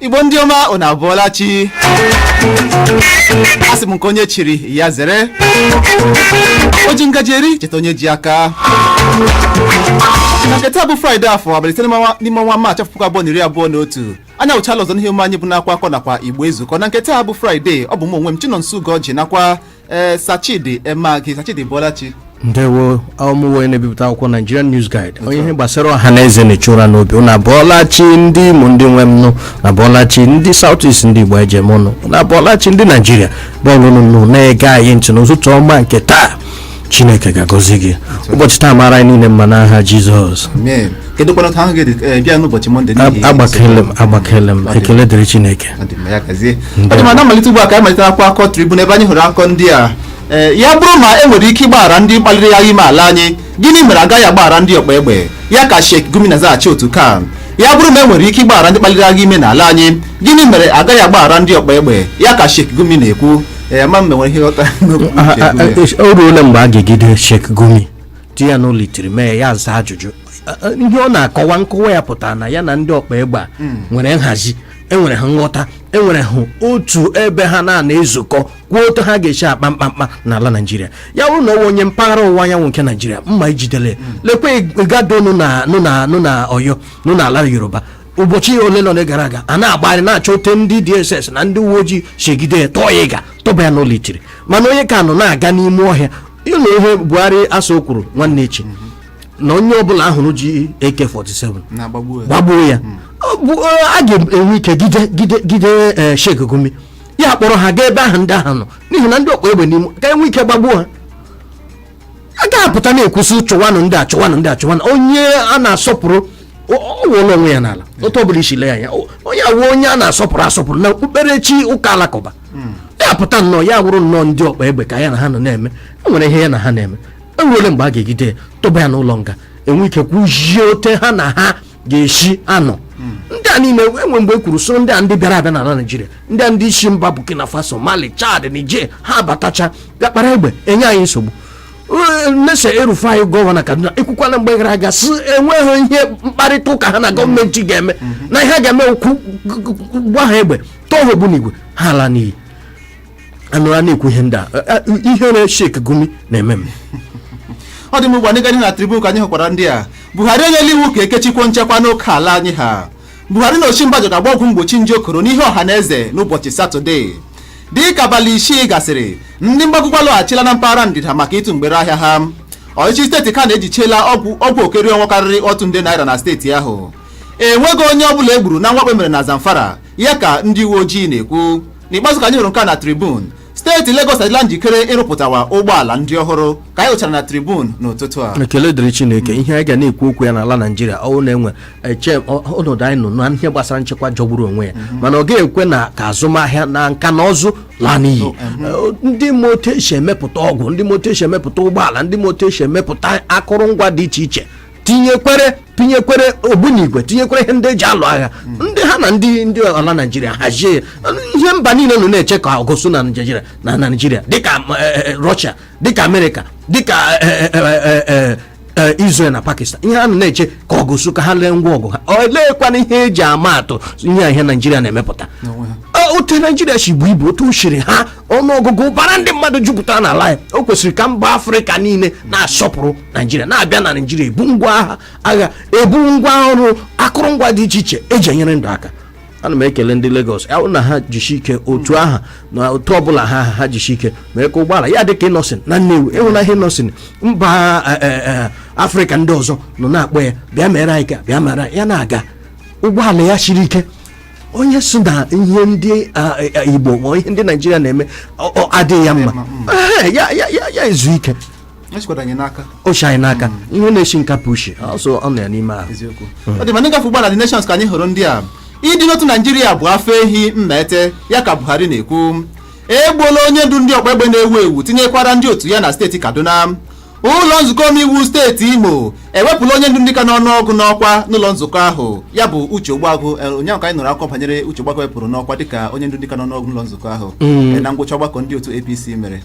igbo ndị ọma unu abọọla chi asị m nke onye chiri ya zere o ji ngaji eri cheta onye ji aka na nke taa bụ fraịde afọ abalị ise n'ime ọnwa maachị afọ puku abụọ na iri abụọ na otu anyị awụchaala ọzọ n'ihe omume anyị bụ n'akwa akọ nakwa igbo ezukọọ na nke taa bụ fraịde ọ bụ m onwe m chinonso ugoji nakwa ee sir chidi emeagi sir chidi ị bọọla chi ndewo ọ mụ wụ onye na-ebipụta akwụkwọ nigerian news guide onye ihe gbasara ọha na eze na-echu ụra n'obi ụna bụọlachi ndị imo ndị nwe m ụnụ abọọla chi ndị south east ndị igbo e ji eme ọnụ ụnụ abọọla chi ndị naijiria ọbụla nọnụ na-ege anyị ntị n'ụtụtụ ọma nke taa chineke ga-agọzi gị ụbọchị taa mara anyị niile mma n'aha jizọs amen kedụkwanụ otu ahụ gị dị eh, bịa n'ụbọchị mọnde n'ihi agbakele m agbakele m ekele dịrị chineke Ọ dị mma, ya gazie. Ọ dị mma, na mmalite ugbu a ka anyị malite akwụkwọ akọ tribune ebe anyị hụrụ akọ ndị a Ee, ya bụrụ ma e nwere ike ịgbaghara ndị kpaliri agha ime ala anyị gịnị mere agaghị agbaghara ndị ọkpa egbe ya ka Sheikh Gumi na-azaghachi otu CAN ya bụrụ ma e nwere ike ịgbaghara ndị kpaliri agha ime ala anyị gịnị mere agaghị agbaghara ndị ọkpa egbe ya ka Sheikh Gumi na-ekwu ee ma m ma e nwere ihe ị ghọtara n'okwu Sheikh Gumi. o ruola mgbe a ga-egide Sheikh Gumi tinye ya n'ụlọ itiri mee ya ya aza ajụjụ A- a- ihe ọ na-akọwa nkọwa ya pụtara na ya na ndị ọkpa egbe a nwere nhazi enwere ha nghọta enwere ha otu ebe ha na-anọ ezukọ kwuo otu ha ga-esi akpa mkpamkpa n'ala naijiria ya bụrụ na ọ wụ onye mpaghara ọwụwa anyanwụ nke naijiria mma ejidele lekwa igboho nọ na nọ na nọ na oyo nọ n'ala yoruba ụbọchị ole na ole gara aga a na-agbagharị na-achọ ote ndị dss na ndị uwe ojii chegide ya tọọ ya ịga tụba ya n'ụlọ itiri mana onye a ka nọ na-aga n'ime ọhịa ị nụ ihe buhari a sị o kwuru nwanne echi na onye ọbụla a hụrụ ji ak-47 na-agbagbu ya. gbagbuo ya Ọ bụ, eh, a ga-enwe ike gide gide gide eh, Sheikh Gumi ya kpọrọ ha gaa ebe ahụ ndị ahụ nọ n'ihi na ndị ọkpa egbe n'ime ka e nwee ike gbagbuo ha a ga-apụta na-ekwusị chụwanụ ndị a chụwanụ ndị a chụwanụ onye a na-asọpụrụ ọ wụọla onwe ya n'ala otu ọbụla isi lee anya onye a wụ onye a na-asọpụrụ asọpụrụ na okpukperechi ụka alakụba hmm. ya pụta nnọọ ya wụrụ nnọọ ndị ọkpa egbe ka ya na ha nọ na-eme e nwere ihe ya na ha na-eme enwere mgbe a ga-egide tụba ya n'ụlọ nga e nwee ike kwuzie ote ha na ha ga-esi anọ hmm. ndị a niile enwe mgbe e kwuru sị ọ ndị a ndị bịara abịa n'ala naijiria ndị a ndị si mba burkina faso mali chad niger ha abatacha bịa kpara egbe enye anyị nsogbu Nasir El-Rufai gọvanọ Kaduna ekwukwala mgbe gara aga sị enweghị ihe mkparịta ụka ha na gọọmenti ga-eme na ihe a ga-eme ọ wụ ịgba ha egbe tụọ ha ogbunigwe ha ala n'iyi a nọrọ na-ekwu ihe ndị a ihe ndị a Sheikh Gumi na-eme m ọ dị mma ugbu a n'ịga na tribune ka anyị hụkwara ndị a buhari enyela iwu ka e kechikwuo nchekwa n'oke ala anyị ha buhari na osinbajo ga-agba ọgwụ mgbochi nje koro n'ihu ọha na eze n'ụbọchị satọde dịka abalị isii gasịrị ndị mgbago ugwu alọghachila na mpaghara ndịda maka ịtụ mgbere ahịa ha ọchịchị steeti Kano ejichiela ọgwụ ọgwụ okeri ọnwa karịrị otu nde naira na steeti ahụ enweghị onye ọ bụla egburu na mwakpo e mere na Zamfara ya ka ndị uwe ojii na-ekwu n'ikpeazụ ka anyị hụrụ nke na Tribune steeti Lagos adịla njikere ịrụpụtawa ụgbọala ndị ọhụrụ ka anyị hụchara na Tribune n'ụtụtụ a ekele dịrị Chineke ihe anyị ga na-ekwu okwu ya n'ala Naijiria ọwụ na-enwe eche ọnọdụ anyị nọ na ihe gbasara nchekwa jọgburu onwe ya mhm. mana ọ ga-ekwe na ka azụmahịa na nka na ụzụ laa n'iyi oh, mhm. eh, ndị ma otu esi emepụta ọgwụ ndị ma otu esi emepụta ụgbọala ndị ma otu esi emepụta akụrụngwa dị iche iche tinyekwere tinyekwere ogbunigwe tinyekwere ihe ndị eji alụ agha mhm. ndị ha na ndị ndị ala naijiria hazie ihe mba niile nọ na-eche ka ọgụ su na naijiria na naijiria dịka eh, eh, rọshia dịka amerịka dịka eh, Israel na Pakistan ihe ha nọ na-eche ka ọgụ su ka ha lee ngwa ọgụ ha oleekwanụ ihe eji ama atụ ihe a ihe Naijiria na-emepụta otu naijiria si buo ibu otu o siri ha ọnụọgụgụ bara ndị mmadụ jupụtara n'ala ya o kwesịrị ka mba afrịka niile na-asọpụrụ naijiria na-abịa na naijiria ebu ngwa agha agha ebu ngwa ọrụ akụrụngwa dị iche iche eji enyere ndụ aka ana m ekele ndị Lagos ya na ha jisi ike otu aha na otu ọbụla ha ha jisi ike mee ka ụgbọala ya dị ka Innoson na Nnewi ị hụla ihe Innoson mba e, e, e, afrịka ndị ọzọ nọ na-akpọ ya bịa mere anyị ka bịa mere ya na-aga ụgbọala ya siri ike onye sị na ihe ndị igbo ma ihe ndị naijiria na-eme adịghị ya mma ya ezu ike o shikwara anyị n'aka o shi anyị n'aka ihe na-eshi nkapị ishi ọjọọ nọ ya n'ime ahụ eziokwu ọ dị mma anyị gafee ugbu a na The Nations ka anyị hụrụ ndị a ịdị n'otu naijiria bụ afọ ehi mmete ya ka buhari na-ekwu egbuola onye ndu ndị ọgba egbe na-ewu ewu tinyekwara ndị otu ya na steeti kaduna ụlọ nzukọ omeiwu steeti imo ewepụla onye ndu ndị ka n'ọnụ ọgụ n'ọkwa n'ụlọ nzukọ ahụ ya bụ uche ogbuagụ eh, ụnyaahụ ka anyị nụrụ akụkọ banyere uche ogbuagụ wepụrụ n'ọkwa dịka onye ndu ndị ka n'ọnụ ọgụ n'ụlọ nzukọ ahụ eh, na ngwụcha ọgbakọ ndị otu apc mere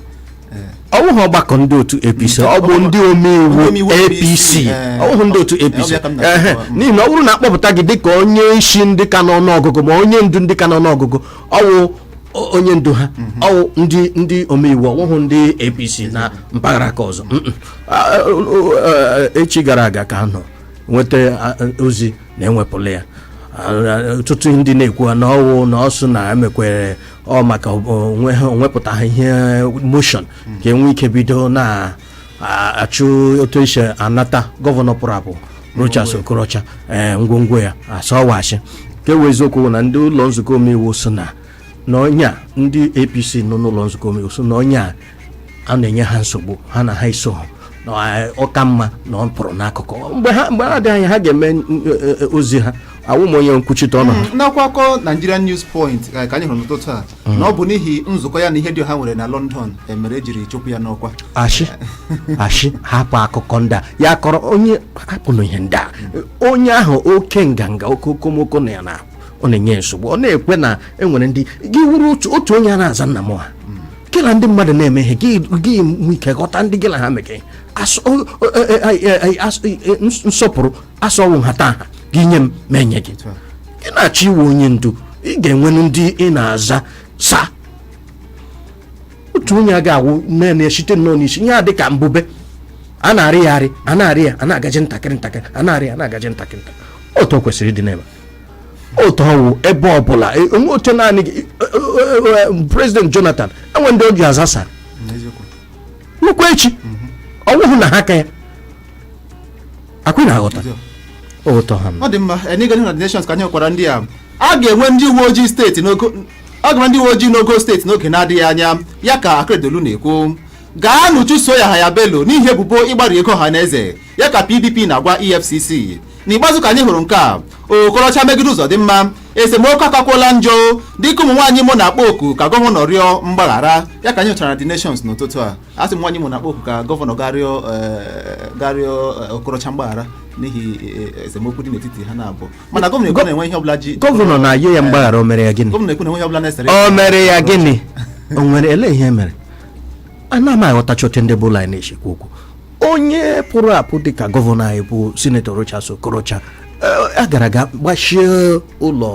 ọ wụghị ọgbakọ ndị otu apc ọ bụ ndị omeiwu Omeiwu apc eh, ọ wụghị ndị otu eh, apc ọ bịa ka m na- ehe n'ihi na ọ wụrụ na akpọpụta gị dịka onye isi ndị ka n'ọnụ ọgụgụ ma onye ndu ndị ka n'ọnụ ọgụgụ ọ wụ o- onye ndu ha ọ wụ ndị ndị omeiwu ọ wụghị ndị apc na mpaghara aka ọzọ Mm, mm. Ah, ah, ah, echi gara aga ka a nọ nweta ah, ah, ozi na ewepụla ya Ah, ah, ọtụtụ ndị na-ekwu na ọ wụ na o so na emekwere ọ maka onwe ha o wepụtaha ihe motion ka e nwee ike bido na-achụ otu esi anata gọvanọ pụrụ apụ Rochas Okorocha ee ngwongwo ya asọwachi ka ewe eziokwu bụ na ndị ụlọ nzukọ omeiwu so na na ọnya ndị APC nọ n'ụlọ nzukọ omeiwu so na ọnya a na-enye ha nsogbu ha na ha iso ha na eh, ọ ka mma na ọ pụrụ n'akụkụ mgbe ha mgbe ha dị anya ha ga-eme n- eh, eh, ozi ha awụ m onye nkwuchite ọnụ ha n'akwụkwọ Nigerian News Point eh, ka anyị hụrụ n'ụtụtụ a na ọ bụ n'ihi nzukọ ya na ihe dị ha nwere na London eh, mere ejiri chụpụ ya n'ọkwa ashị ashị hapụ akụkọ ndị a ya kọrọ onye hapụnụ ihe ndị a onye ahụ oke nganga oke okomoko na ya na ọ na-enye nsogbu ọ na-ekwe na enwere ndị gị wụrụ otu otu onye a na-aza nna m ha gị na ndị mmadụ na-eme ihe gị gị nwe ike ghọta ndị gị na ha mekọ ihe Asọ- o- o- e- e- e- e- asọ- e- e- ns- nsọpụrụ a sị wụ nhata nha gị nye m mụ enye gị gị na-achọ ịwụ onye ndu ị ga-enwenụ ndị ị na-aza sa otu onye a ga-awụ naanị ya site nnọọ n'isi ihe a dị ka mbube a na-arị ya arị a na-arị ya a na-agaji ntakịrị ntakịrị a na-arị ya a na-agaji ntakịrị ntakịrị otu o kwesịrị ịdị n'ebe a. otu ọ wụ ebe ọbụla e, onwe oche naanị gị e, e, prezident jonathan enwe ndị ọ ji aza sa nnukwu echi mhm. ọ wụhụ na ha ka ya ọkwa ị na-aghọta ụtọ ha ọ dị mma n'ịga na nations ka anyị gwara ndị a a ga-enwe ndị uwe ojii steeti n'ogo a ga-enwe ndị uwe ojii n'ogo steeti n'oge na-adịghị anya ya ka akeredolu na-ekwu gaanụ chụso yahaya bello n'ihi ebubo ịgbari ego ọha na eze ya ka pdp na-agwa efcc n'ikpeazụ ka anyị hụrụ nke a okorocha megide ụzọdịmma esemokwu akakwuola njọ dịka ụmụ nwaanyị imo na-akpọ oku ka gọvanọ rịọ mgbaghara ya ka anyị hụchara na the nations n'ụtụtụ a a sị ụmụ nwaanyị imo na-akpọ oku ka gọvanọ gaa rịọ eh, gaa rịọ eh, okorocha mgbaghara n'ihi eh, esemokwu dị n'etiti ha naabọ mana gọvanọ ekwu na enwe ihe ọbụla ji gọvanọ na-ayọ ya mgbaghara o mere ya gịnị gọvanọ ekwu na enwe ihe ọbụla na-esere o mere ya gịnị o nwere elee ihe mere ana m aghọtacha otu ndị bụ ụlọ anyị na-esi ekwu okwu onye pụrụ apụ dịka gọvanọ anyị bụ sinetọ Rochas Okorocha a gara aga gbachie ụlọ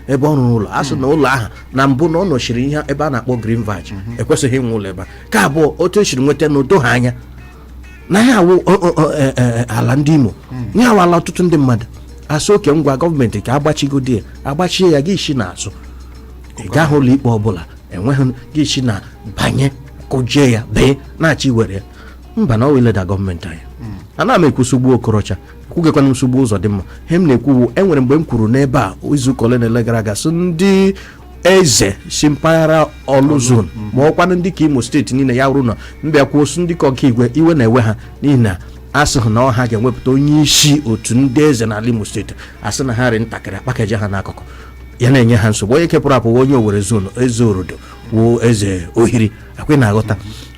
ebe ọ rụrụ ụlọ a sị na ụlọ ahụ na mbụ na ọ nọchiri ihe ebe a na-akpọ Green Verge ekwesịghị inwe ụlọ ebe a nke abụọ otu esiri nweta ala edoha anya na ya awụ ala ndị Imo ya awụ ala ọtụtụ ndị mmadụ a sị okay ngwa gọọmenti ka agbachigodi ya agbachie ya gị esi n'azụ ị gaghị ụlọ ikpe ọbụla enweghị gị isi na banye kụjie ya baa na-achọ iwere ya mbanụ ọ wụ ileda gọọmenti anya hmm. ana m ekwu nsogbu okorocha kwukwanụ nsogbu ụzọdịmma ihe m na-ekwu wụ enwere mgbe m kwuru n'ebe a izuụka ole na ole gara aga sị ndị eze si mpaghara ọlụ zone hmm. ma ọkwanụ ndị nke imo steeti niile ya wụrụ na m bịa kwuo osu ndị nke okigwe iwe na-ewe ha n'ihi na asị hụ na ọ ha ga-ewepụta onye isi otu ndị eze n'ala imo steeti asị na ha rị ntakịrị akpakaja ha n'akụkụ ya na-enye ha nsogbu onye nke pụrụ apụ wụ onye owere zone eze orodo wụ eze ohiri a kwa ị na-aghọta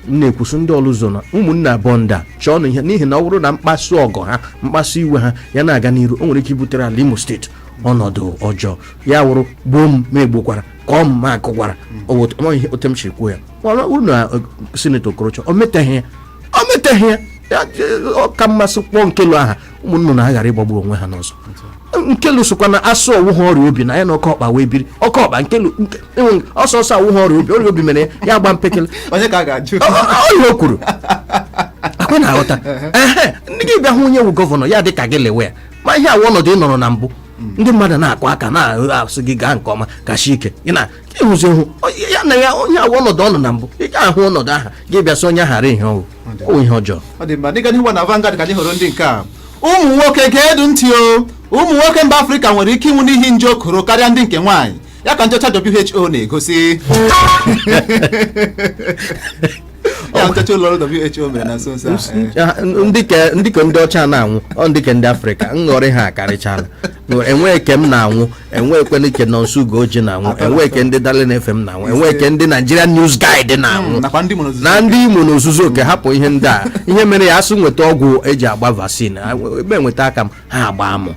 m na-ekwuso ndị orlu zone ụmụnne abụọ ndị a chọọ na ihe n'ihi na ọ wụrụ na mkpasu ọgọ ha mkpasu iwe ha ya na-aga n'iru o nwere ike ibutere ala imo steeti ọnọdụ ọjọọ ya wụrụ gbuo m ma egbukwara kụọ m ma akụkwara ọ wụ- ọ ihe otu m si kwuo ya mana ọ wụrụ na eh, sinetọ okorocha o meteghị ya o meteghị ya ya eh, ọ ka mma asị kpọọ nkelu aha ụmụ nnụnụ aghara ịgbagbu onwe ha n'ọsọ nkelu sụkwa na asụ ọ wụha ọrịa obi na ya na oke ọkpa wee biri oke ọkpa nkelu ọsọ ọsọ awụha ọrịa obi ọrịa obi mere ya gba mpekele onye ka a ga-ajụ ọrịa o kwuru a kwa ị na-aghọta ehe ndị gị bịa hụ onye wụ gọvanọ ya dị ka gị lewe ya ma ihe awụ ọnọdụ ị nọrọ na mbụ ndị mmadụ na-akụ aka na-asụ gị gaa nke ọma gachi ike ị na ịhụzi hụ onye- ya na ya onye ahụ ọnọdụ ọ nọ na mbụ ị gaghị ahụ ọnọdụ aha gị bịa sị onye ahara ihe ọ wụ ọ wụ ihe ọjọọ ọ dị mma n'ịga n'ihu na Vanguard ka anyị hụrụ ndị nke a ụmụ nwoke ga-edu ntị o ụmụ nwoke mba afrịka nwere ike ịnwụ n'ihi nje koro karịa ndị nke nwaanyị ya ka nchọcha who na-egosi ya nchọcha ụlọ ọrụ who mere na nso nso a eh. Ya, n- ndị ke- ndị ka ndị ọcha na-anwụ ọ ndị ka ndị afrịka nghọrị ha akarịchala enweghị ke m na-anwụ enweekwene ke nọnso ugoji na-anwụ Atọ na enwee ke ndị darling fm na-anwụ enwee ke ndị nigerian news guide na-anwụ nakwa ndị mụrụ na ndị imo n'ozuzu oke hapụ ihe ndị a ihe mere ya asụ nweta ọgwụ eji agba vaccine a- m eweta aka m ha agba mụ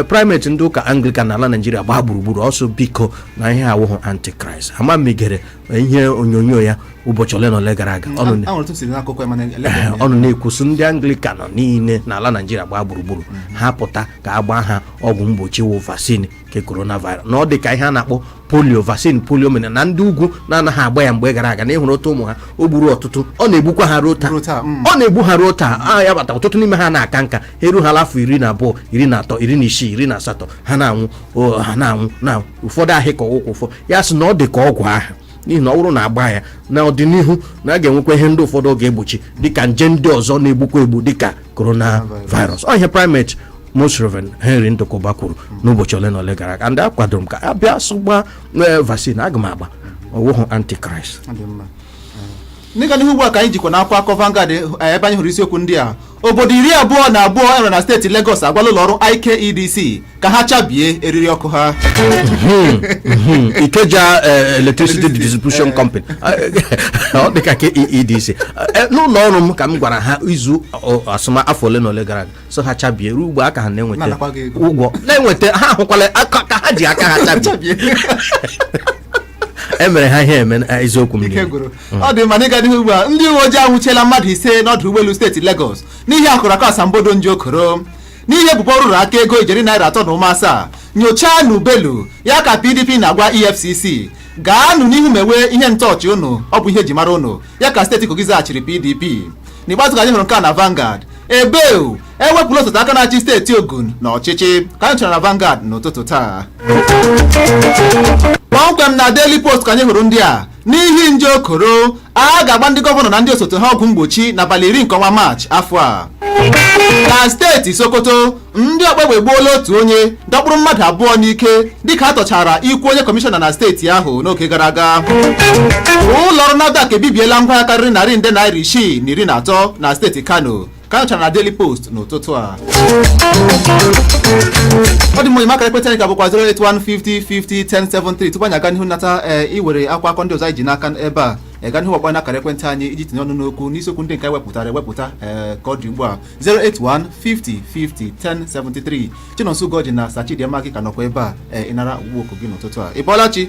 primate ndị ụka anglican n'ala naijiria gbaa gburugburu ọ sụ biko na ihe a awụghụ antichrist ama m ị gere ihe onyonyo ya ụbọchị ole na ole gara aga ọ nọ na- ahụrụ tụsiri n'akụkọ ya mana Ee, eleghị ọ nọ na-ekwusi ndị anglikan niile n'ala naijiria gbaa gburugburu ha pụta ka a gbaa ha ọgwụ mgbochi wụ vaccine nke coronavirus na ọ dị ka ihe a na-akpọ polio vaccine polio mere na ndị ugwu na-anaghị agba ya mgbe gara aga na ị hụrụ otu ụmụ ha o gburu ọtụtụ ọ na-egbukwa ha ruo taa Ruo taa, mm. ọ na-egbu ha ruo taa ọ ya kpata ọtụtụ n'ime ha anaha aka nka ha eru ha afọ iri na abụọ iri na atọ iri na isii iri na asatọ ha na-anwụ o, ha na-anwụ na ụfọdụ ahịa aka ụkwụ ụfọ ya sị na ọ dị ka ọgwụ ahụ n'ihi na ọ wụrụ na a gbaa ya na ọdịnihu na a ga-enwekwa ihe ndị ụfọdụ ọ ga-egbochi dịka nje ndị ọzọ na-egbukwa egbu dịka coronavirus ọ ihe primate most reverend henry ndukuba kwuru n'ụbọchị ole na ole gara aga ndị a akwadoro m ka a bịa sụ gbaa ee vaccine aga m agba ọ wụhụ antichrist Ọ dị mma. Ee. N'ịga n'ihu ugbu a ka anyị jekwa n'akwụkwọ akụkọ Vanguard eh, ebe anyị hụrụ isiokwu ndị a Obodo iri abụọ na abụọ enwere na steeti Legọs agwala ụlọọrụ IKEDC ka ha chabie eriri ọkụ ha hmm, hmm. Ikeja eh, Electricity Distribution eh. Company ọ dịka ke EEDC eh, n'ụlọ ọrụ m ka m gwara ha izu asụ m afọ ole na ole gara aga sụ ha chabie ruo ugbu a ka ha na-eweta ụgwọ na-eweta ha ahụkwala ka ha ji aka ha chabie emere ha ihe eme eziokwu m ọ dị mma n'ịga n'ihu ugbu a ndị uwe ojii anwụchiela mmadụ ise n'ọdụ ụgbọelu steeti Lagos n'ihi akụrụakụ asambodo nje okoro n'ihi ebubo nrụrụaka ego ijeri naira atọ na ụma asaa nyochaanụ Bello ya ka PDP na-agwa EFCC gaanụ n'ihu mewe ihe ntọọchị unu ọ bụ ihe eji mara unu ya ka steeti Kogi zaghachiri PDP n'ikpeazụ ka anyị hụrụ nke a na Vanguard ebe ewepụla osote aka na-achị steeti Ogun na ọchịchị ka anyị nyochara na Vanguard n'ụtụtụ taa kpọmkwem na Daily Post ka anyị hụrụ ndị a n'ihi nje okoro a ga-agba ndị gọvanọ na ndị osote ha ọgwụ mgbochi n'abalị iri nke ọnwa maachị afọ a na steeti sokoto ndị ọkpaegbe egbuola otu onye dọkpụrụ mmadụ abụọ n'ike dịka a tọchara ikwu onye kọmishọna na steeti ahụ n'oge gara aga ụlọọrụ NAFDAC ebibiela ngwaahịa karịrị narị nde naira isii na iri na atọ na steeti kano ka a chọrọ na Daily Post n'ụtụtụ a ọ dị mma enyi m akara ekwentị anyị ka bụkwa 08150501073 tupu anyị aga n'ihu nata ee iwere akwụkwọ akụkọ ndị ọzọ anyị ji n'aka ebe a gaa n'ihu kpọọ n'akara ekwentị anyị iji tinye ọnụ n'okwu n'isiokwu ndị nke anyị wepụtara ewepụta ee ka ọ dị ugbu a 08150501073 Chinonso Ugoji na Sachidi Amaki ka nọkwa ebe a ee ịnara ọkpụkpọ oku gị n'ụtụtụ a ị bọọla chi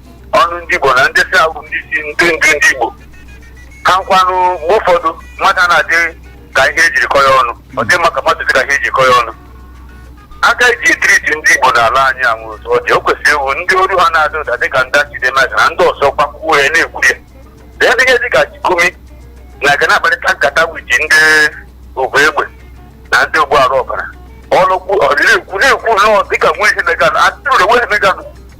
ọnụ ndị Igbo na ndị sị ha bụ ndị isi ndị ndu ndị Igbo ka nkwanụ mgbe ụfọdụ mmadụ na-adị ka ihe ejiri kọ ya ọnụ ọ dị mma ka mmadụ dị ka ihe eji kọ ya ọnụ aka eji triti ndị Igbo n'ala anyị anwụ otu ọ dị o kwesịrị ịwụ ndị olu ha na-ada ụda dị ka ndị Chidimaka na ndị ọzọ gbakwuo ya na-ekwu ya na ya dịghị dị ka Sheikh Gumi na-aga na-akparịta nkata with ndị ogbu egbe na ndị ogbu arụ ọbara ọnụkwu ọdịna ekwu na-ekwu nnọọ dịka nwa ihe meganụ atụrụ nwa ihe meganụ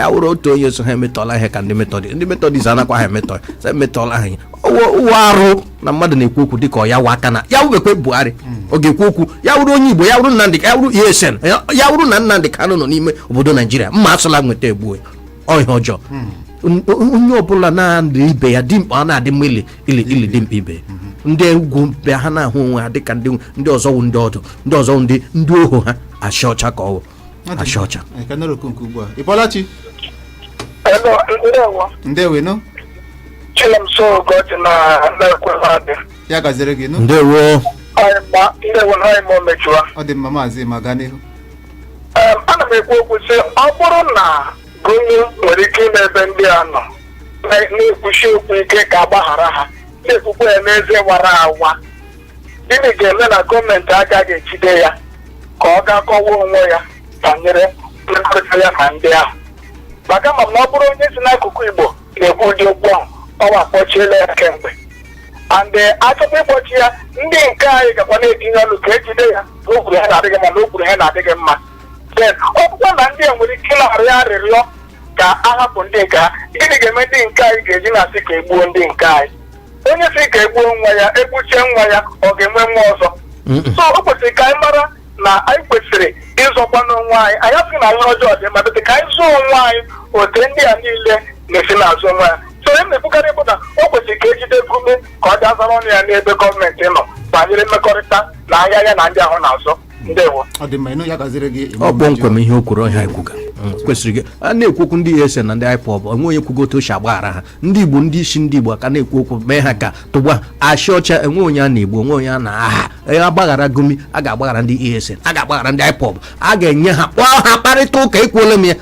ya wụrụ otu onye so ha emetọla ihe ka ndị metọdis ndị metọdis anakwa ha emetọ sị emetọla ha ihe Ọwụ- ụwụ arụ na mmadụ na-ekwu okwu dịka ọ ya wụ aka na ya wụbekwe buhari ọ ga-ekwu okwu ya wụrụ onye igbo ya wụrụ nnamdị ya wụrụ esen ya wụrụ na nnamdị kanụ nọ n'ime obodo naijiria mma asụla nweta egbuo ihe ọjọọ N- onye ọbụla na-adị ibe ya dimkpa ọ na-adị mma ili ili ili dimkpa ibe ya. ndị ugwu bịa ha na-ahụ onwe ha dịka ndị ndị ọzọ wụ ndị ọdụ ndị ọzọ wụ ndị ndị ohu ha achị ọcha ka ọ wụ achọ ọcha Ee, ka anyị nara oku nke ugbu a ị bọọla chi Hello, ndewo. ndewonụ Chinonso Ugoji na na-ekwe mmadụ. ya gaziri gị nụ ndewo Anyị gba ndewo na anyị ma o mejuwa. ọ dị mma maazị Emma gaa n'ihu Em, ana m ekwu okwu sị ọ bụrụ na Gumi nwere ike ije ebe ndị a nọ na- na-ekwusi okwu ike ka agbaghara ha na-ekwukwa ya n'ezi wara awa gịnị ga-eme na gọọmenti agaghị ejide ya ka ọ gaa kọwa onwe ya banyere mmekọrịta ya na ndị ahụ maka ama m na ọ bụrụ onye si n'akụkụ igbo na-ekwu ụdị okwu ahụ ọwa akpọchiela ya kemgbe and achọkwa ịkpọchi ya ndị nke anyị gakwa na-etinye ọnụ ka ejide ya na o kwuru ihe na-adịghị mma na o kwuru ihe na-adịghị mma then ọ bụkwa na ndị a nwere ike ịna-arịọ arịrịọ ka a hapụ ndị nke ha gịnị ga-eme ndị nke anyị ga-eji na-asị ka egbuo ndị nke anyị onye si ka egbuo nwa ya egbuchie nwa ya ọ ga-enwe nwa ọzọ so o kwesịrị ka anyị mara na anyị kwesịrị ịzọkwa n'onwe anyị anyị asị na ihe ọjọọ dị mma bete ka anyị zọọ onwe anyị otu ndị a niile na-esi na-azọ onwe ya so ihe m na-ekwukarị bụ na o kwesịrị ka ejide Gumi ka ọ bịa zara ọnụ ya n'ebe gọọmenti nọ banyere mmekọrịta na ahịa ya na ndị ahụ na-azụ ndewo ọ dị mma ịnụ ya gaziere gị ọ kpọmkwem ihe o kwuru ọhịa ekwuga kwesịrị gị a na-ekwu okwu ndị ESN na ndị IPOB o nwe onye kwugo otu o si agbaghara ha ndị igbo ndị isi ndị igbo ka na-ekwu okwu mee ha ka tụgba achị ọcha enwe onye a na-egbu o nwe onye a na-aha ya agbaghara Gumi a ga-agbaghara ndị ESN a ga-agbaghara ndị IPOB a ga-enye ha kpọọ ha kparịta ụka ekwuola m ya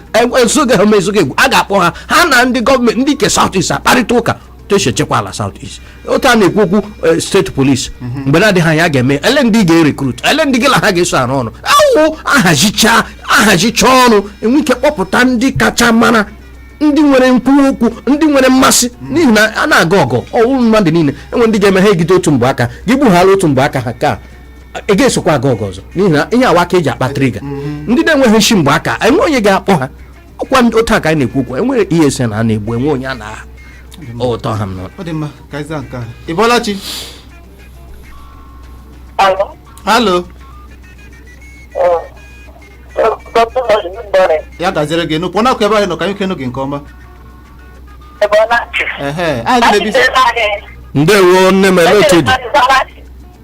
ezoghị ha ma ezoghị egwu a ga-akpọ ha ha na ndị gọọmenti ndị nke South East akparịta ụka otu esi echekwa ala South East otu a na-ekwu okwu eh, state police mhm. mgbe na-adịghị anya ga-eme ele ndị ga-erecruit ele ndị gị na ha ga-eso arụ ọrụ ọ wụ ahazicha ahazicha ọrụ enwe ike kpọpụta ndị kacha mara ndị nwere nkwuwa okwu ndị nwere mmasị mhm. n'ihi na a na-aga ọgụ ọ wụ mmadụ niile enwe ndị ga-eme ha egide otu mgbe aka gị gbughara otu mgbe aka ha ka ị ga-esokwa aga ọgụ ọzọ n'ihi na ihe a wụ aka eji akpa trigger mhm. ndị na-enweghị nshi mgbe aka enwe onye ga-akpọ ha ọkwa ndị otu a ka anyị na-ekwu okwu enwere ESN a na-egbu enwe onye a na-atọha m n'ụlọ ọ dị mma ka anyị zaa nke a ị bọọla chi Hello. halo Uh, uh, Dr. Lodge, good morning. ya gaziere gị nụpụ na-akụ ebe anyị nọ ka anyị kenu gị nke ọma Ebe ọ na-achị. ehe anyị gị na-ebi Achịcha anyị. ndewo nne m ele otu dị Achịcha anyị.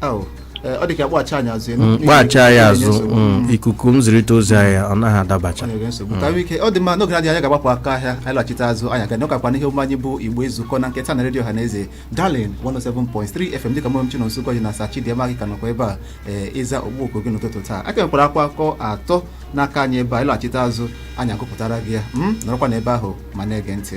Au, eh, ọ dị ka kpọghachi anyị azụ enu. Mm, N'ihi kpọghachi na anyị ikuku azụ na-enye nsogbu. mm, ikuku nzirịta ozi anyị ọ naghị adabacha Onye ga-nsogbu. Ka wike, ọ dị mma n'oge na-adịghị anya anyị ga-agbapụ aga ahịa anyị laghachite azụ anyị ga-anọkwa n'ihe omume anyị bụ igbo ezukọ nke taa na redio ọhaneze Darling 107.3 fm dịka mụrụ m chino nsụkọ ji na sa Chidinma anyị ka nọkwa ebe a ee ịza ogbuoko gị n'ụtụtụ taa a ka nwekwara akụkọ atọ n'aka anyị ebe a anyị laghachite azụ anyị agụpụtara gị ya m nọrọkwa n'ebe ahụ ma na-ege ntị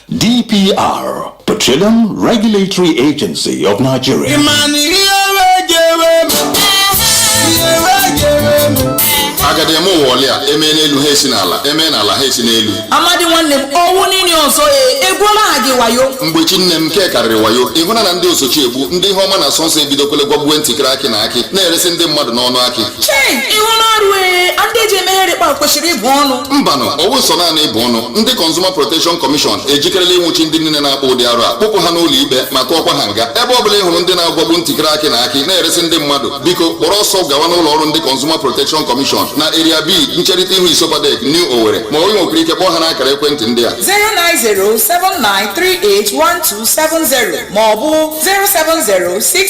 DPR, Petroleum Regulatory Agency of Nigeria. agadi eme ụwa olia emee n'elu ha esi n'ala emee n'ala ha esi n'elu amadi nwanne m ọ wụ niile ọzọ ya egwuola gị wayo mgbe chi nne m nke karịrị wayo ịhụna na ndị osochi egbu ndị ihe ọma na-asọ nsọ ebidokwele gwagbuwe ntịkịrị akị na akị na-eresị ndị mmadụ n'ọnụ akị chei ịhụ na arụ ee ndị eji emeghere kpa kwesịrị ịbụ ọnụ mbanụ ọ wụ nsọ naanị ịbụ ọnụ ndị Consumer Protection Commission ejikerela ịnwụchi ndị niile na-akpa ụdị arụ a kpụpụ ha n'ụlọ ikpe ma tụọkwa ha nga ebe ọ bụla ị hụrụ ndị na-agwagbu ntikere akị na akị na-eresị ndị mmadụ biko kpọrọ ọsọ gawa n'ụlọ ọrụ ndị Consumer Protection Commission na Area B ncherịta ihu ISOPADEC New Owerri ma onye nwekwara ike kpọọ ha n'akara ekwentị ndị a 09079381270 maọbụ 07068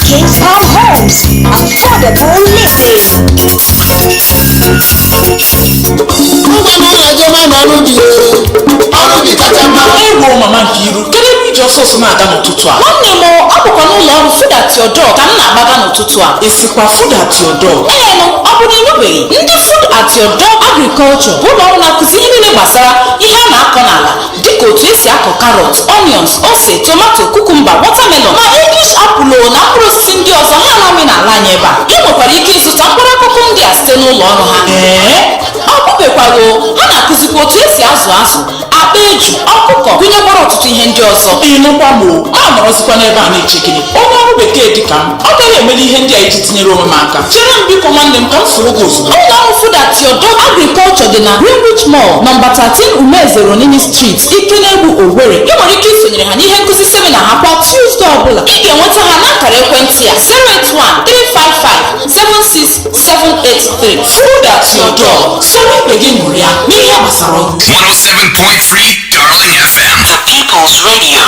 Kings Farm Homes. Affordable living. Ewo mama Nkiru, kedu ebe i ji ọsọ ọsọ na-aga n'ụtụtụ a? Nwanne m, ọ bụkwa n'ụlọ ọrụ Food at Your Door ka m na-agbaga n'ụtụtụ a. Ị sịkwa Food at Your Door. Ee nụ, ọ bụ na ị nụbeghị? Ndị Food at Your Door Agriculture bụ ụlọ ọrụ na-akụzi ihe niile gbasara ihe a na-akọ n'ala dịka otu esi akọ karọt onions ose tomato kukumba watermelon ma english apple o na mkpụrụ osisi ndị ọzọ ha na-amị n'ala anyị ebe a ị nwekwara ike ịzụta mkpụrụ akụkụ ndị a site n'ụlọ ọrụ ha ee ọ bụbekwara o ha na-akụzikwa otu esi azụ azụ akpa eju ọkụkọ gụnyekwara ọtụtụ ihe ndị ọzọ ị nụkwa m o m anọrọzikwa n'ebe a na-eche gịnị onye ọrụ bekee dịka m ọ gaghị emeli ihe ndị a iji tinyere onwe m aka chere m biko nwanne m ka m soro gị ozugbo ụlọ ọrụ Food at Your Door Agriculture dị na Greenwich Mall nọmba 13 Umez Eronini Street Ikenegbu Owerri ị nwere ike isonyere ha n'ihe nkụzi semina ha kwa Tuesday ọbụla ị ga-enweta ha n'akara ekwentị a 08135576783 Food at Your Door soro ibe gị ṅụrịa n'ihe gbasara ugbo 107.3 Darling FM. The People's Radio.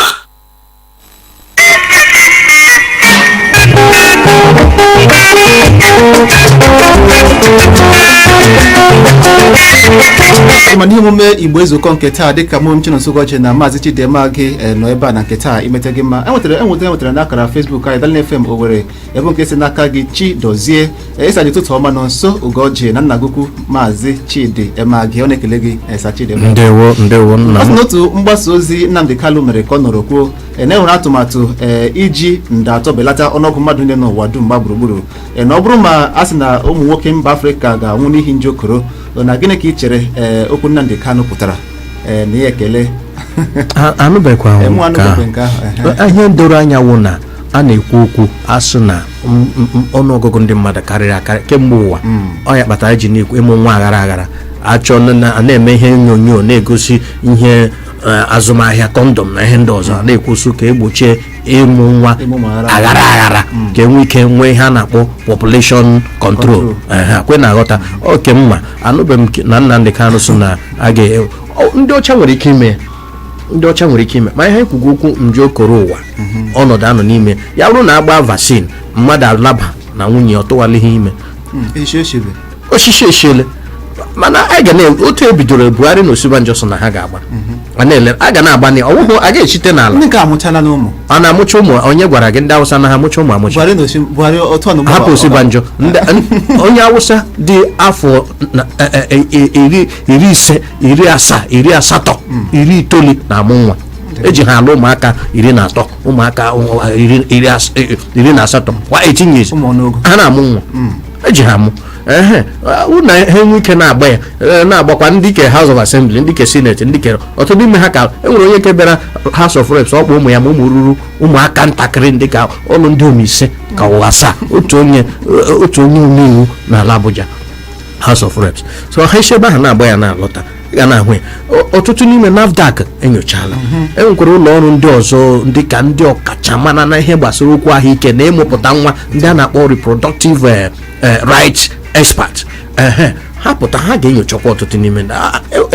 ma n'ihe omume igbo ezukọ nke taa dịka mụ Chinonso Ugochi na maazị Chidi Emagi eh, nọ ebe a na nke taa imeta gị mma enwetara enwetara enwetara na akara facebook anyị Darling FM Owerri ebe nke si n'aka gị Chidozie ị sị ụtụtụ ọma Nonso Ugochi na nna anyị ukwu maazị chidi emagi ọ na-ekele gị sa chidi Emagi. ndewo ndewo nna ọ sị m n'otu mgbasa ozi nnamdị kanu mere ka ọ nọrọ kwuo e na enwere atụmatụ ee iji nde atọ belata ọnụọgụ mmadụ niile n'ụwa dum gba gburugburu e na ọ bụrụ ma a sị na ụmụ nwoke mba afrịka ga-anwụ n'ihi nje korona gịnị ka ị chere ee okwu nnamdị kanu pụtara ee na ihe ekele A- anụbeghịkwa m Enwe nke anụbeghị nke ahụ, ehe. ahụ ihe doro anya wụ na a na-ekwu okwu a sị na m- m- m- ọnụọgụgụ ndị mmadụ karịrị akarị kemgbe ụwa ọ ya kpatara eji na-ekwu ịmụ nwa aghara aghara achọ na- na- a na-eme ihe onyonyo na-egosi ihe eh, azụmahịa kọndọm na ihe ndị ọzọ a na-ekwusi ka egbochie ịmụ nwa Ịmụ nwa aghara aghara aghara ka enwe ike nwee ihe a na-akpọ population control Ehe, kwe na aghọta oke mma anụbeghị m ke- na Nnamdị Kanụ sị na a ga- ọ- ndị ọcha nwere ike ime ya ndị ọcha nwere ike ime ma ha kwugo okwu nje koro ụwa ọnọdụ anọ n'ime ya bụrụ na agba vaccine mmadụ alaba na nwunye ọ tụwalighị ime echi echebe osisi echiele mana a ga na otu ebidoro buhari na osibanjo so na ha ga-agba a na-ele a ga na-agba na ọwụhụ a ga-echite n'ala ndị nke amụchala ụmụ a na-amụcha ụmụ onye gwara gị ndị awụsa na-amụcha ụmụ amụcha buhari na osi buhari otu ọnụ hapụ osibanjo Ndị- n- onye awụsa dị afọ na- e- e- e- iri iri ise iri asaa iri asatọ hmm. iri itoolu na-amụ nwa eji ha alụ ụmụaka iri na atọ ụmụaka iri na asatọ kwa 18 years ha na-amụ nwa hmm. eji ha amụ ehe na ha enwe ike na-agba ya e, na-agbakwa ndị ke House of Assembly ndị ke Senate ndị ke ọtụtụ n'ime ha ka e nwere onye nke bịara House of Reps ọ kpọ ụmụ ya ma ụmụ ruru ụmụaka ntakịrị ndị ka ọnụ ndị ise ka ọ wụ asaa otu onye e, otu onye omeiwu n'ala Abuja House of Reps so ha si ebe ahụ na-agba ya na-alọta ga na-ahụ ya ọtụtụ n'ime NAFDAC enyochala mhm. e nwekwara ụlọ ọrụ ndị ọzọ ndị ka ndị ọkachamara na ihe gbasara okwu ahụike na ịmụpụta nwa ndị a na-akpọ reproductive eh, eh, rights expert ha pụta ha ga-enyochakwa ọtụtụ n'ime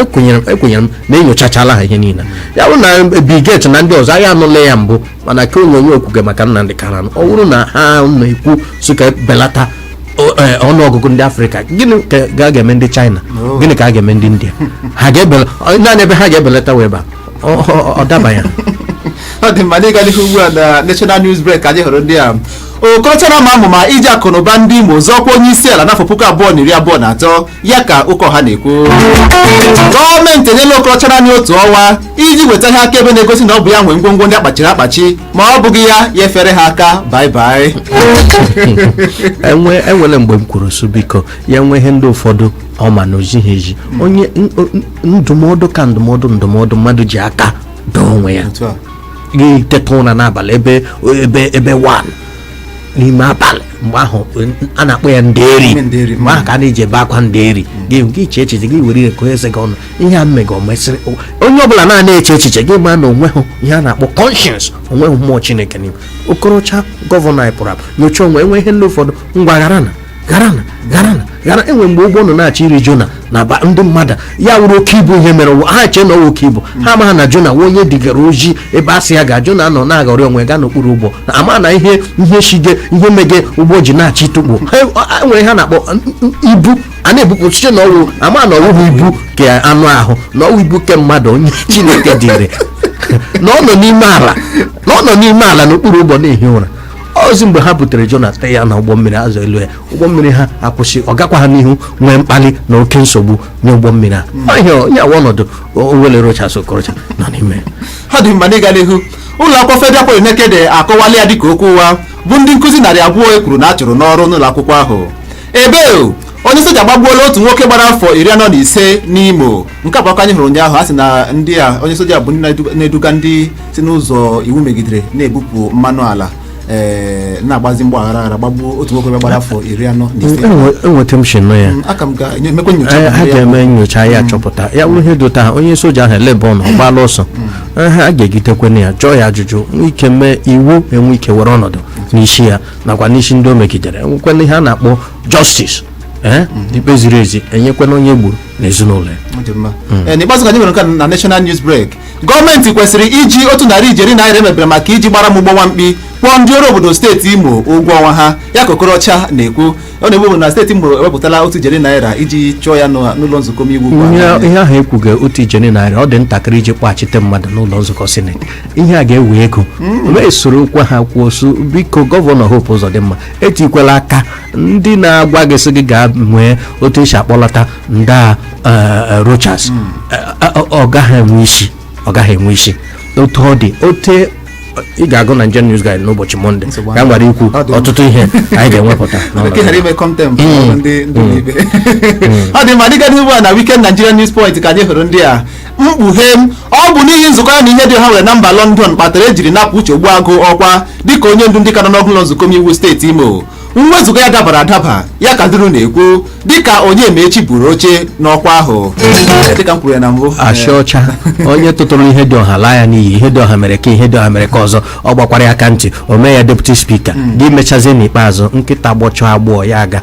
ekwenyere e e m na enyochachala ha ihe niile ya bụrụ na Bill Gates na ndị ọzọ anyị anụla ya mbụ mana ka onyonyo okwuge maka Nnamdi Kanu ọ bụrụ na ha na-ekwu sị ka e belata o- eh, ọnụọgụgụ ndị afrịka gịnị ka ga- ga-eme ndị china gịnị ka a ga-eme ndị india ha ga-ebela ọ- naanị ebe ha ga-ebelata wụ ebe a ọ- ọ ọ daba ya ọ dị mma n'ịga n'ihu ugbu a na national news break ka anyị hụrụ ndị a okorocha na-ama amụma iji akụnụba ndị imo zọọ ọkwa onye isi ala n'afọ puku abụọ na iri abụọ na atọ ya ka Okeọha na-ekwu gọọmenti enyela Okorocha naanị otu ọnwa iji weta ihe akaebe na-egosi na ọ bụ ya nwe ngwongwo ndị akpachiri akpachi ma ọ bụghị ya ya efere ha aka bye bye enwe enwere mgbe m kwuru sị biko ya nwee ihe ndị ụfọdụ ọ ma na o zighị ezi onye n- n- ndụmọdụ ka ndụmọdụ ndụmọdụ mmadụ ji aka dụọ onwe ya Otu a. gị teta ụra n'abalị ebe ebe ebe 1 n'ime abalị mgbe ahụ a na-akpọ ya nderi nderi, mgbe ahụ ka a na-eji ebe akwa nderi gị gị echee echiche gị were ire gụọ eze gị ọnụ ihe a m mega o mesịrị o- onye ọbụla na-ana eche echiche gị ma na onweghị ihe a na-akpọ conscience onweghị mmụọ chineke n'ime okorocha gọvanọ anyị pụrụ apụ nyocha onwe enwe ihe ndị ụfọdụ ngwaghara na garana garana gara enwe mgbe ụgbọ nọ na-achọ iri jona na ba ndị mmadụ ya wụrụ oke ibu ihe mere wụ ha chee na ọ wụ oke ibu ha amaghị na jona nwa onye e dugara ozi ebe a sị ya ga jona nọ na-aghọrị onwe gaa n'okpuru ụgbọ ama na ihe ihe shige ihe mege ụgbọ ji na-achọ ịtụkpọ Ha- nwere ha na-akpọ n- n- ibu a na-ebupụ site na ọwụ ama na ọwụghị ibu ke anụ ahụ na ọwụ ibu ke mmadụ onye chineke dịrị na ọ nọ n'ime ala na ọ nọ n'ime ala n'okpuru ụgbọ na-ehi ụra ozi mgbe ha butere jona tụọ ya na ụgbọ mmiri azụ eloo ya ụgbọ mmiri ha akwụsị ọ gakwa ha n'ihu nwee mkpali na oke nsogbu nye ụgbọ mmiri ahụ ee ihe a wụ ọnọdụ owele rochas okorocha nọ n'ime ya ọ dị mma n'ịga n'ihu ụlọ akwụkwọ federal polytechnic nekede akọwala ya dịka okwu ụgha bụ ndị nkụzi narị abụọ e kwuru na a chụrụ n'ọrụ n'ụlọ akwụkwọ ahụ ebe onye soja gbagbuola otu nwoke gbara afọ iri anọ na ise n'imo nke a bụ akụkọ anyị hụrụ ụnyaahụ a sị na ndị a onye soja bụ ndị na-edu- na-eduga ndị si n'ụzọ iwu megidere na-ebupụ mmanụ ala ee, na-agbazi mgbọ aghara aghara gbagbuo otu nwoke gbara afọ iri anọ na ise enweta m shi na ya Mm, aka m ga-emekwa nyocha Eh, ha banyere ya. ga-eme nyocha ya chọpụta ya bụrụ ihe dota ha onye soja ahụ olee ebe ọ nọ ọ gbaala ọsọ Eh, ha ga-egitekwana ya jụọ ya ajụjụ nwee ike mee iwu enwee ike were ọnọdụ n'isi ya nakwa n'isi ndị o megidere enwekwana ihe a na-akpọ justice ee ikpe ziri ezi enyekwana onye o gburu na ezinụlọ ya Ọ dị mma. Ee, n'ikpeazụ ka anyị nwere nke a na national news break gọọmenti kwesịrị iji otu narị ijeri naira emebere maka iji gbara m ụgbọ nwa mkpi kwụọ ndị ọrụ obodo steeti imo ụgwọ ọnwa ha ya ka okorocha na-ekwu ọ na-ekwu bụ na steeti imo ewepụtala otu ijeri naira iji chụọ ya n'ụlọ n'ụlọ nzukọ omeiwu ugbu a. ihe ihe ahụ ekwughị otu ijeri naira ọ dị ntakịrị iji kpọghachite mmadụ n'ụlọ nzukọ sineti ihe a ga-ewe ego wee soro kwa ha kwuo sị biko gọvanọ Hope Uzodimma etikwala aka ndị na-agwa gị sị gị gaa nwee otu esi akpọlata ndị a eh, eh, Rochas Eh, eh, ọ gaghị enwe isi ọ gaghị enwe isi otu ọ dị ote ị ga-agụ na Nigerian News Guide n'ụbọchị Mọnde Nsogbu ka m ghara ikwu Ọ dị mma. ọtụtụ ihe anyị ga-ewepụta n'ọnọdụ Bekee ghara ime contempt ndị ndị ibe ọ dị mma n'ịga n'ihu a na Weekend Nigerian News Point ka anyị hụrụ ndị a mkpughe ọ bụ n'ihi nzukọ ya na Ihedioha nwere na mba London kpatara ejiri napụ Uche Ogbuagụ ọkwa dịka onye ndu ndị ka n'ọnụọgụ ụlọ nzukọ omeiwu steeti Imo mwezuga ya dabara adaba ya ka Duru na-ekwu dịka Onyemaechi buru oche n'ọkwa ahụ achị ọcha onye tụtụrụ Ihedioha laa ya n'iyi Ihedioha mere ka Ihedioha mere ka ọzọ ọ gbakwara ya aka ntị o mee ya deputy speaker hmm. gị mechazie n'ikpeazụ nkịta gbọchaa agbọ ya aga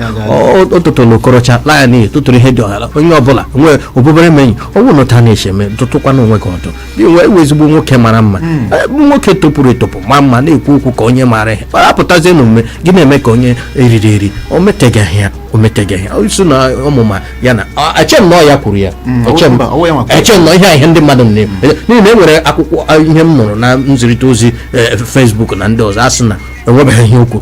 o tụtụrụ Okorocha laa ya n'iyi tụtụrụ Ihedioha onye ọbụla nwee obi ebere menyi ọ bụrụ na ụta na-echeme dụtụkwana onwe gị ọdụ gị nwa ị wụ ezigbo nwoke mara mma hmm. eh, nwoke topụrụ etopụ ma mma na-ekwu okwu ka onye maara ihe ọ apụtazie na omume gị na-eme ka onye eriri eri o metegaghị ya o metegaghị ya isi na ọmụma ya na eche m na ọ ya kwuru ya hmm, eche m na ihe a ihe ndị mmadụ na-eme hmm. n'ihi na e nwere akwụkwọ ihe m nụrụ na nzirịta ozi eh, Facebook na ndị ọzọ a sị na enwebeghị ihe okwu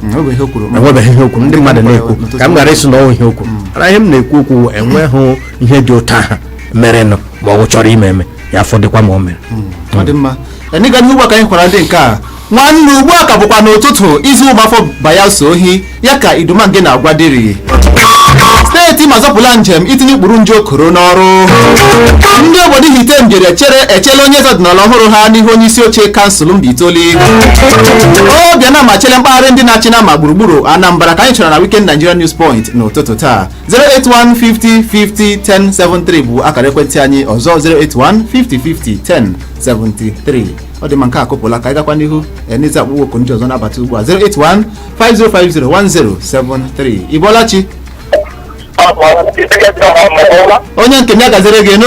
enwebeghị ihe okwu ndị mmadụ na-ekwu ka m ghara ịsị na o nweghị ihe okwu mana ihe m na-ekwu okwu enweghị ihe dị otu ahụ merenụ ma ọ bụ chọrọ ime eme ya fọdụkwa ma o mere ọ dị mma n'ịga n'ihu gba ka anyị kwara ndị nke a nwanne ugbu a ka bụkwa n'ụtụtụ izu ụgbafọ bayelsa ohi ya ka idumange na-agwa Diri steeti Imo azọpụla njem itinye ụkpụrụ nje koro n'ọrụ ndị obodo Ihitte Mbieri echeela onye eze ọdịnala ọhụrụ ha n'ihu onye isi oche kansụl Mbaitoli Obiano machiele mkpagharị ndị na-achị nama gburugburu anambra ka anyị chọrọ na weekend nigerian news point n'ụtụtụ taa 08150501073 bụ akara ekwentị anyị ọzọ 08150501073 ọ dị mma nke a akụpụla ka anyị gakwa n'ihu n'ịza ọkpụkpọ oku ndị ọzọ na-abata ugbu a 08150501073 ị bọọla chi onye nke m ya gaziere gị nụ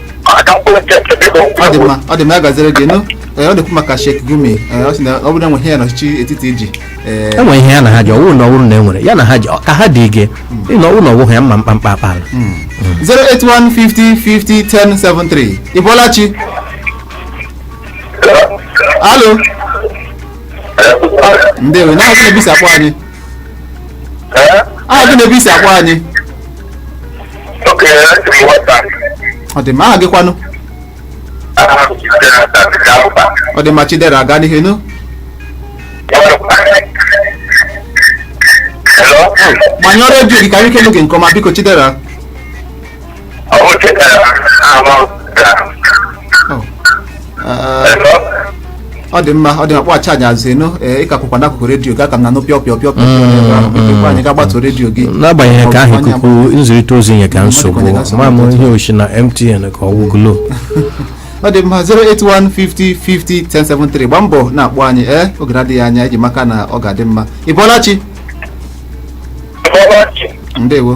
aka mkpụrụ nke nke biko ọ dị mma ọ dị mma ya gaziere gị nụ Ee, ọ na-ekwu maka Sheikh Gumi Ee, ọ sị na ọ bụrụ na enweghị ihe ya na ọchịchị etiti ji ee, enwere ihe ya na ha ji ọ wụrụ na ọ wụrụ na enwere ihe ya na ha ji ọ- ka ha dị ige ịnọ ọ wụrụ na ọ wụghị ya mma mkpamkpa akpa ala 08150501073 Ị bọọla chi halo ndewo aha gị na ebe i si akpọ anyị Ee? aha gị na ebe i si akpọ anyị Oke, esi m nwata. ọ dị mma aha gị kwanụ Aha m Chidera na Tanzania Alba. ọ dị mma chidera gaa n'ihu nụ Hello? gbanyụọ redio gị ka anyị kelu gị nke ọma biko chidera ọ dị mma ọ dị mma kpọghachi anyị azụ ị nụ ee ị ka kwụkwa n'akụkụ redio gị a ka m na-anụ pịọ pịọ pịọ pịọ ebe ahụ mepekwa anyị ga gbatuo redio gị n'agbanyeghị nke ahụ ikuku nzirịta ozi nye ka nsogbu ma m ihe o shi na mtn ka ọ wụ glo ọ dị mma 08150501073 gbaa mbọ na-akpọ anyị ee oge na-adịghị anya eji m aka na ọ ga-adị mma ị bọọla chi ndewo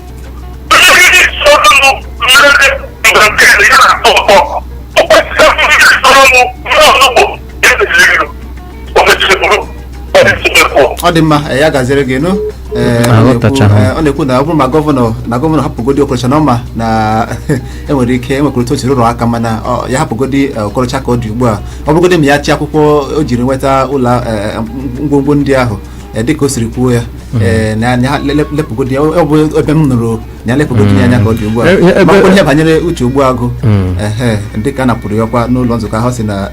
ọ dị mma ee, ya gaziere gị nụ Ee, ọ Aghọtacha na-ekwu- ha. ee, ọ na-ekwu na ọ bụrụ ma gọvanọ na gọvanọ hapụgodi okorocha na ọ ma na enwere ike enwekwara otu o siri rụrụ aka mana ọ- ya hapụgodi ee, okorocha ka ọ dị ugbu a ọ bụrụgodi ma ya chi akwụkwọ o jiri nweta ụlọ ee, ngwongwo ndị ahụ Eh, dịka o siri kwuo ya eh, na ya le- lepụgodi ya ọ bụ ebe m nụrụ na ya lepụgodi ya anya ka ọ dị ugbu a Eh, eh, ebe- makwa ihe banyere Uche Ogbuagụ ehe dịka a napụrụ ya ọkwa n'ụlọ nzukọ ahụ si na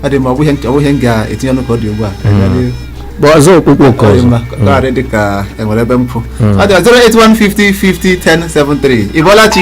ọ dị ma ọ bụ ihe nch- ọ bụ ihe m ga-etinye ọnụ ka ọ dị ugbu a Bụ ọzọ ọkpụkpọ oku Ọ dị ọzọ mma, ka ọ ghara ịdị ka enwere ebe m kwụ ọ dị 08150501073 ị bọọla chi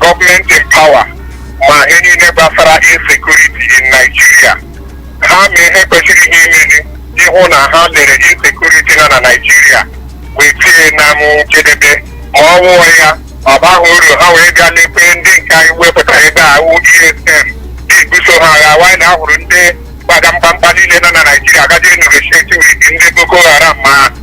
gọọmenti in power ma ihe niile gbasara insecurity in Naijiria ha ma ihe kwesịrị ha imeli ịhụ na ha lere insecurity nọ na Naijiria wee bịa na njedebe ma ọ wụọ ya ọ baghị ha uru ha wee bịa lekwe ndị nke anyị wepụtara ebe a wụ ESN na-ebuso ha agha while ha hụrụ ndị kpaga mkpamkpa niile nọ na Naijiria gaje ịnegotiate with ndị Boko Haram ma